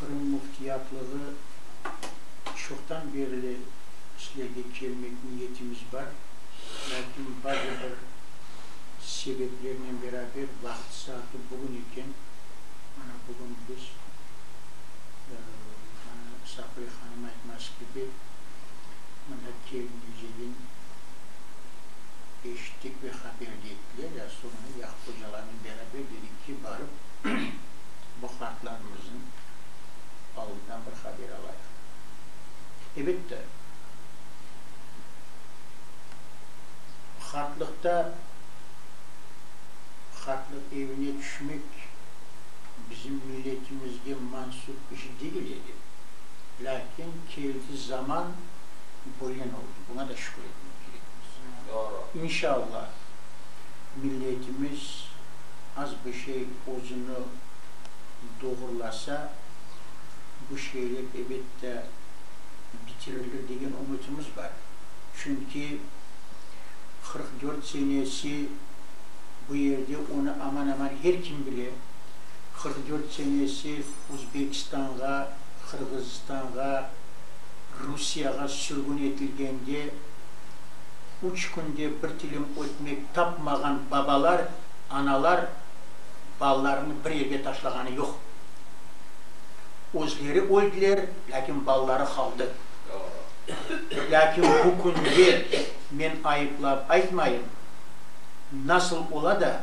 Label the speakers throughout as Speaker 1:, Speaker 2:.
Speaker 1: Qırım Müftiyatlığı çoqtan berli sizlerge kelmek niyetimiz bar, lâkin bazı bir sebeplernen beraber vaqıt saatı bugün eken, mana bugün biz, mana Safiye hanım aytması kibi, mında kelmey degen eşittik ve haber de ettiler, ya soñra ya hocalarnen beraber dedik ki, barıp, bu qartlarımıznıñ alından bir haber alayıq. Ebette, qartlıqta qartlıq evine tüşmek bizim milletimizge mansup iş degil edi, lâkin keldi zaman, bölen oldı, buña da şükür etmek kerekmiz. İnşallah, milletimiz az bir şey. özüni doğrulasa, bu şeyler ebet de bitirilir degen ümütimiz bar. Çünki qırq dört senesi bu yerde, onı aman-aman her kim bile. Qırq dört senesi Uzbekistanğa, Qırğızstanğa, Rusiyağa sürgün etilgende, üç künde bir tilim ötmek tapmağan babalar, analar, balalarını bir yerge taşlağanı yoq. Özleri öldiler, lâkin balaları qaldı. Lâkin bu künde, men ayıplap aytmayım, nasıl ola da,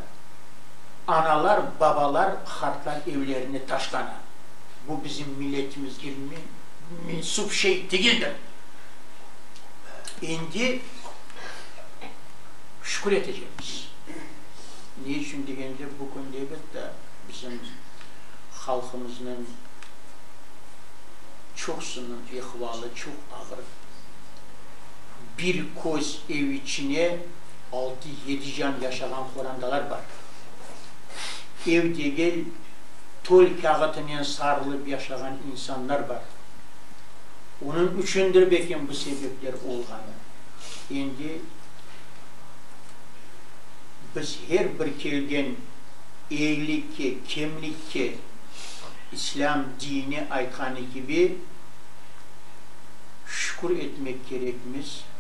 Speaker 1: analar, babalar qartlar evlerini taşlana? Bu bizim milletimizge mensup şey degildir. Endi şükür etecekmiz. Ne içün degende, bu künde, elbette, bizim halqımıznıñ çoqusınıñ ehvalı çoq ağır. Bir köz ev içine altı-yedi can yaşağan qorandalar bar. Ev degil, tol kâğıtınen sarılıp yaşağan insanlar bar. Onıñ içündir belki bu sebepler olğanı. Endi. Biz her bir kelgen eyylikke, kemlikke, İslâm dini aytqanı kibi, şükür etmek kerekmiz.